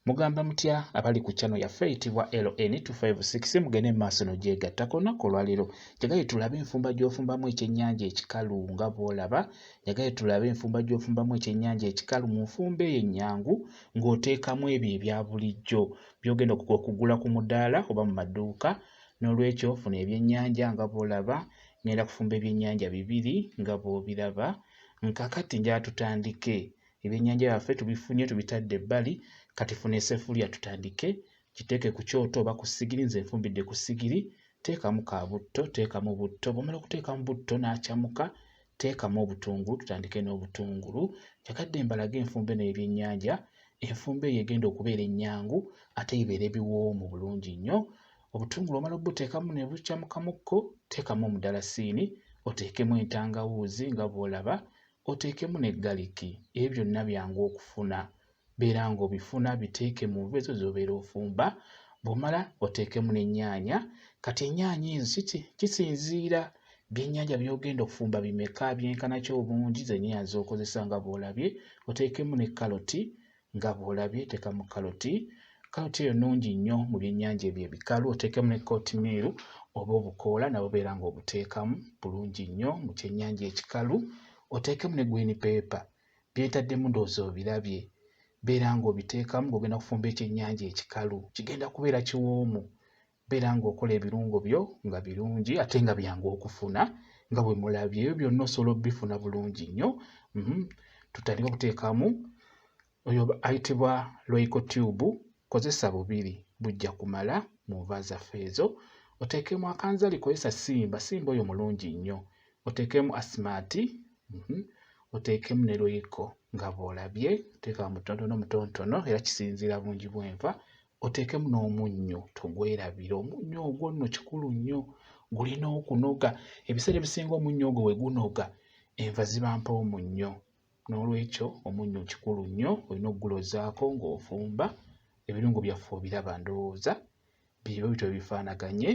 Mugamba mutya abali ku channel yaffe eyitibwa LN256 mugende mu maaso n'ogyegatta ku lunaku olwaleero njagaye tulabe enfumba gy'ofumbamu ekyennyanja ekikalu nga bw'olaba njagaye tulabe enfumba gy'ofumbamu ekyennyanja ekikalu mu nfumba eyo ennyangu ng'oteekamu ebyo ebya bulijjo by'ogenda okugula ku mudaala oba mu maduuka n'olwekyo funa ebyennyanja nga bw'olaba ngenda kufumba ebyennyanja bibiri nga bw'obiraba nkakati njaa tutandike ebyennyanja byaffe tubifunye tubitadde ebbali kati funa esefulya tutandike kiteeke ku kyoto oba ku sigiri nze nfumbidde ku sigiri teekamu ka butto teekamu butto bwomala okuteekamu butto n'akyamuka teekamu obutungulu tutandike n'obutungulu njagadde mbalage enfumba eno y'ebyennyanja enfumba eyo egenda okubeera ennyangu ate ebeera ebiwoomu bulungi nnyo obutungulu omala obuteekamu ne bukyamukamukko teekamu omudalasini oteekemu entangawuuzi nga bw'olaba oteekemu ne galiki ebyo byonna byangu okufuna beera ng'obifuna biteeke mu nva ezo z'obeera ofumba bw'omala oteekemu n'ennyaanya kati ennyaanya ezo kiki kisinziira byennyanja by'ogenda okufumba bimeka byenkana ki obungi zennyanya z'okozesa nga bw'olabye oteekemu ne kaloti nga bw'olabye teekamu kaloti kaloti eyo nnungi nnyo mu byennyanja ebyo ebikalu oteekemu ne kootimiiru oba obukoola nabo beera ng'obuteekamu bulungi nnyo mu kyennyanja ekikalu oteekemu ne gwini peepa byentaddemu ndowooza obirabye beera ng'obiteekamu ng'ogenda kufumba ekyennyanja ekikalu kigenda kubeera kiwoomu beera ng'okola ebirungo byo nga birungi ate nga byangu okufuna nga bwe mulabye ebyo byonna osobola obifuna bulungi nnyo mhm. tutandika okuteekamu oyo ayitibwa loiko tube kozesa bubiri bujja kumala mu nva zaffe ezo oteekemu akanzali kozesa simba simba oyo mulungi nnyo oteekemu asimaati mhm. oteekemu ne loiko nga bw'olabye oteekamu mutontono mutontono era kisinziira bungi bw'enva oteekemu n'omunnyo togwerabira omunnyo ogwo nno kikulu nnyo gulina okunoga ebiseera ebisinga omunnyo ogwo we gunoga enva ziba mpawo munnyo n'olwekyo omunnyo kikulu nnyo olina okugulozaako ng'ofumba ebirungo byaffe obiraba ndowooza byebiba bityo bifaanaganye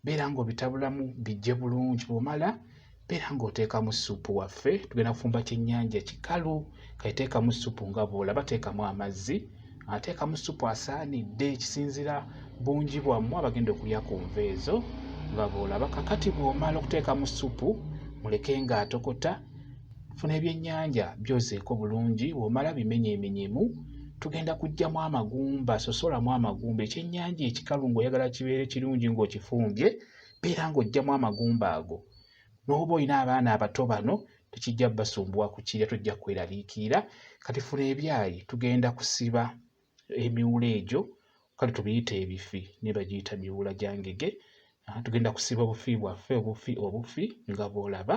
beera ng'obitabulamu bijje bulungi bw'omala beera ng'oteekamu ssupu waffe tugenda kufumba kyennyanja kikalu kaiteekamu ssupu nga bw'olaba teekamu amazzi ateekamu ssupu asaanidde ekisinzira bungi bwammwe abagenda okulya ku nva ezo nga bw'olaba kakati bw'omala okuteekamu ssupu muleke ng'atokota funa ebyennyanja byozeeko bulungi bw'omala bimenyemenyemu tugenda kuggyamu amagumba sosolamu amagumba ekyennyanja ekikalu ng'oyagala kibeere kirungi ng'okifumbye beera ng'oggyamu amagumba ago n'oba olina abaana abato bano tekijja basumbuwa ku kirya tojja kweraliikirira kati funa ebyayi tugenda kusiba emiwula egyo kale tubiyita ebifi naye bagiyita miwula gya ngege tugenda kusiba obufi bwaffe obufi obufi nga bw'olaba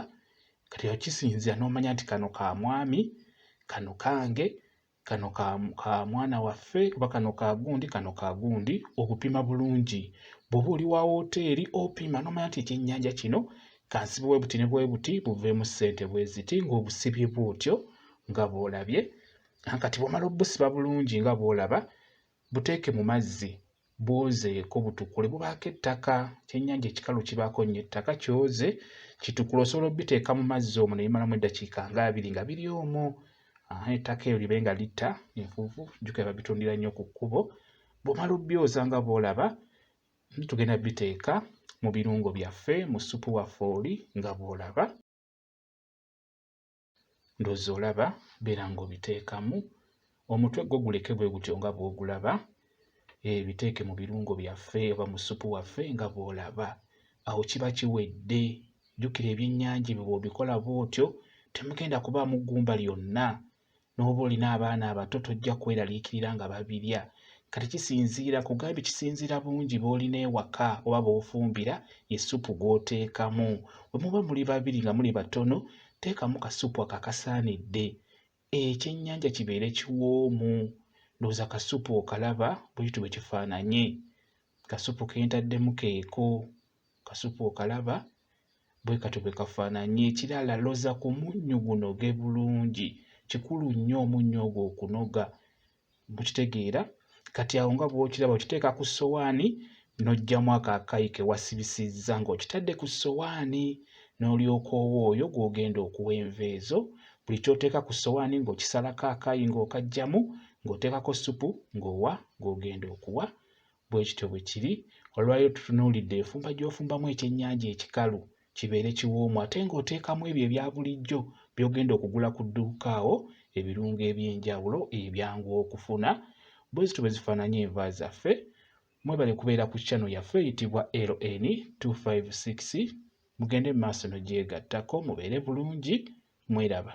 kati kisinzira n'omanya nti kano ka mwami kano kange kano ka, ka mwana waffe oba kano ka gundi kano ka gundi okupima bulungi bw'oba oli wa wooteeri opima n'omanya nti ekyennyanja kino kansibe bwe buti ne bwe buti buveemu ssente bwe ziti ng'obusibye bw'otyo nga bw'olabye kati bw'omala obusiba bulungi nga bw'olaba buteeke mu mazzi bwozeeko butukule bubaako ettaka kyennyanja ekikalu kibaako nnyo ettaka kyoze kitukule osobola obiteeka mu mazzi omwo ne bimalamu eddakiika nga abiri nga biri omwo ettaka eyo libe nga litta enfuufu jjukira babitundira nnyo ku kkubo bw'omala obyoza nga bw'olaba tugenda biteeka mu birungo byaffe mu ssupu waffe oli nga bw'olaba ndoza olaba beera ng'obiteekamu omutwe gwo guleke bwe gutyo nga bw'ogulaba ebiteeke eh, mu birungo byaffe oba mu ssupu waffe nga bw'olaba awo kiba kiwedde jjukira ebyennyanja ebyo bw'obikola bw'otyo temugenda kubaamu ggumba lyonna n'oba olina abaana abato tojja kweraliikirira nga babirya kati kisinziira kugambye kisinziira bungi b'olina ewaka oba b'ofumbira ye ssupu gw'oteekamu bwe muba muli babiri nga muli batono teekamu kasupu ako akasaanidde ekyennyanja kibeere kiwoomu ndowooza kasupu okalaba buyiti bwe kifaananye kasupu ke ntaddemu keeko kasupu okalaba bwe katyo bwe kafaananye ekirala loza ku munnyu gunoge bulungi kikulu nnyo omunnyu ogwo okunoga mukitegeera kati awo nga bwokiraba okiteeka ku sowaani n'oggyamu ako akayi ke wasibisizza ng'okitadde ku sowaani n'olyoka owa oyo gw'ogenda okuwa enva ezo buli ky'oteeka ku sowaani ng'okisalako akayi ng'okaggyamu ng'oteekako ssupu ng'owa gw'ogenda okuwa bwe kityo bwe kiri olwaleero tutunuulidde enfumba gy'ofumbamu ekyennyanja ekikalu kibeere kiwoomu ate ng'oteekamu ebyo ebya bulijjo by'ogenda okugula ku dduuka awo ebirungo eby'enjawulo ebyangu okufuna bwe zityo bwe zifaananya enva zaffe mwebale kubeera ku channel yaffe eyitibwa ln 256 mugende mu maaso nogyegattako mubeere bulungi mweraba